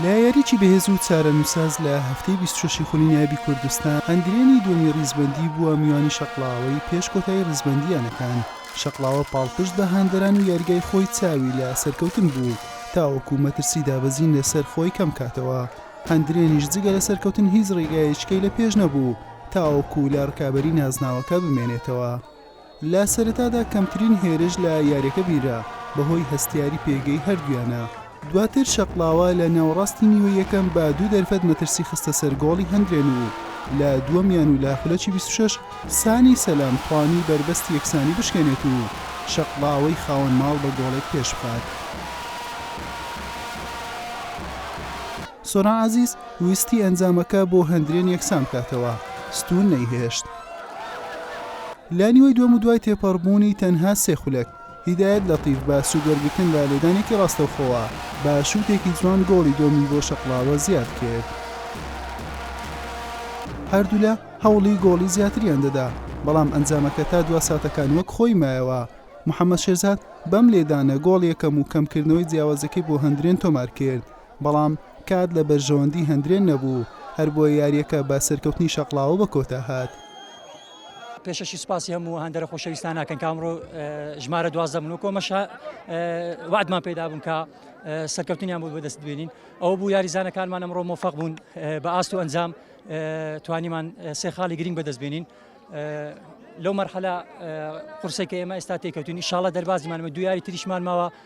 لەیاریی بەهێز و چارەنووسساز لە هەفتەی بیست و شەش ی خولی نایابی کوردستان، ئەندرێنی دووەمی ریزبەندی بووە میوانی شەقڵاوەی پێش کۆتایی ریزبەندی یانەکان، شەقڵاوە پاڵپشت بە هاندەران و یاریگای خۆی چاوی لە سەرکەوتن بوو تاوەکو مەترسی دابەزین لەسەر خۆی کەمکاتەوە، ئەندرێنیش جگە لە سەرکەوتن هیچ ریگایەکیی لە پێش نەبوو تاوەکو لە رکابەری نازناوەکە بمێنێتەوە. لە سەرەتادا کەمترین هێرش لە یاریەکە بینرا بەهۆی هەستیاری پێگەی هەردوویانە، دواتر شەقڵاوە لە ناوەڕاستی نیوەی یەکەم بە دوو دەرفەت مەترسی خستە سەر گۆڵی هەندرێن و لە دووەم یان و لە خولەکی بیست و شەش سانی سەلام توانی بەربەستی یەکسانی بشکێنێت و شەقڵاوەی خاوەن ماڵ بە گۆڵێک پێش بخات. سۆران عەزیز ویستی ئەنجامەکە بۆ هەندرێن یەکسان بکاتەوە، ستوون نەیهێشت. لە نیوەی دووەم و دوای تێپەڕبوونی تەنها سێ خولەک، هیدایەت لەتیف بە سوود وەرگرتن لە لێدانێکی ڕاستەوخۆوە بە شووتێکی جوان گۆڵی دووەمی بۆ شەقڵاوە زیاد کرد. هەردوولا هەوڵی گۆڵی زیاتریان دەدا، بەڵام ئەنجامەکە تا دوا ساتەکان وەک خۆی مایەوە. محەمەد شێرزاد بەم لێدانە گۆڵ یەکەم و کەمکردنەوەی جیاوازیەکەی بۆ هەندرێن تۆمار کرد، بەڵام کات لە بەرژەوەندی هەندرێن نەبوو، هەربۆیە یارییەکە بە سەرکەوتنی شەقڵاوە بە کۆتا هات. پێشەشی سوپاسی هەموو هاندەرە خۆشەویستان ناکەن کە ئەمڕۆ ژمارە دوازدە بوون، وەک ئەمەش وەعدمان پێدا بوون کە سەرکەوتنیان بۆ بەدەست بێنین، ئەوە بوو یاریزانەکانمان ئەمڕۆ مۆفەق بوون بە ئاست و ئەنجام توانیمان سێ خاڵی گرینگ بەدەست بێنین لەو مەرحەلە قورسەی کە ئێمە ئێستا تێکەوتووین، ئیشاڵڵە دەربازیمان بە دوو یاری تریشمان ماوە.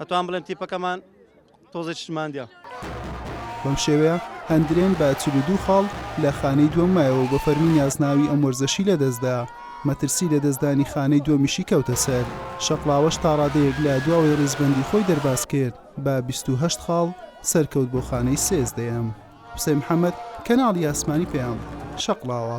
ئەتوان بڵێن تیپەکەمان تۆزێک شتماندە. بەم شێوەیە ئەندرێن بە چل و دوو خاڵ لە خانەی دووەم مایەوە بە فەرمی نازناوی ئەم وەرزەشی لەدەستدا مەترسی لەدەستدانی خانەی دووەمیشی کەوتە سەر شەقڵاوەش تاڕادەیەک لە دواوەی ڕیزبەندی خۆی دەرباز کرد بە بیست و هەشت خاڵ سەرکەوت بۆ خانەی سێزدەیەم حوسێن محەمەد کەناڵی ئاسمانی پەیام شەقڵاوە.